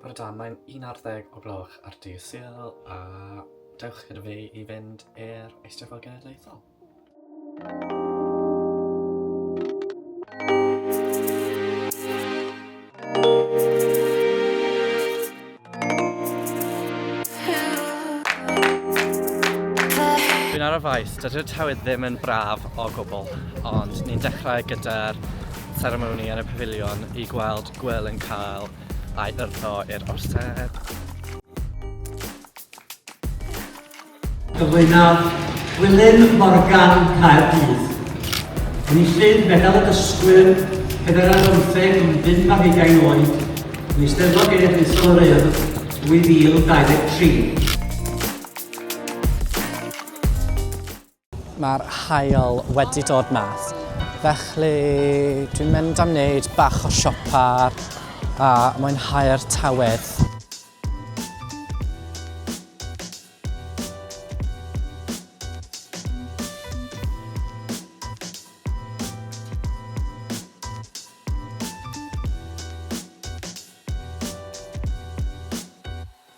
Bore da, mae'n un ar ddeg o gloch ar dydd Sul a dewch gyda fi i fynd i'r Eisteddfod Genedlaethol. ar y faes, dydy'r tywydd ddim yn braf o gwbl, ond ni'n dechrau gyda'r ceremony yn y pafilion i gweld Gwyl yn cael ei yrtho i'r Orsedd. Cyflwynodd Gwilym Morgan Caerdydd. Enillydd Medal y Dysgwyr, Pedwerydd ar Bymtheg yn bum ar hugain oed, yn Eisteddfod Genedlaethol yr Urdd 2023. Mae'r haul wedi dod mas, felly dwi'n mynd am wneud bach o siopa a mwynhau'r tywydd.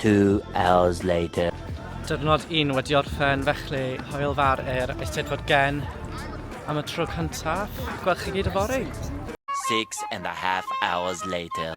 Two hours later. Diwrnod un wedi orffen, felly hwyl fawr i'r Eisteddfod Gen am y tro cyntaf. Gweld chi gyd yfory. Six and a half hours later.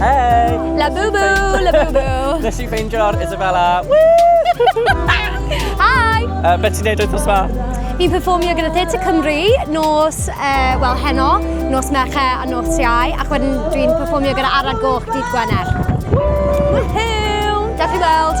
Hey! La boo boo, la boo boo. Nes i ffeindio'r Isabella. Hi! Uh, be ti'n neud wythnos ma? Fi'n performio gyda Theatre Cymru nos, uh, wel, heno, nos Merche a nos Iau, ac wedyn dwi'n performio gyda Arad Goch dydd Gwener. Woohoo! Dewch i weld!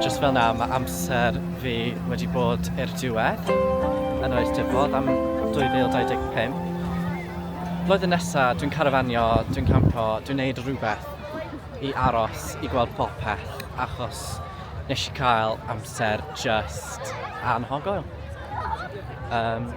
just fel na, mae amser fi wedi bod i'r diwedd yn oes dyfod am 2025. Blwyddyn nesaf, dwi'n carafanio, dwi'n campo, dwi'n neud rhywbeth i aros i gweld popeth achos nes i cael amser just anhogoel. Um,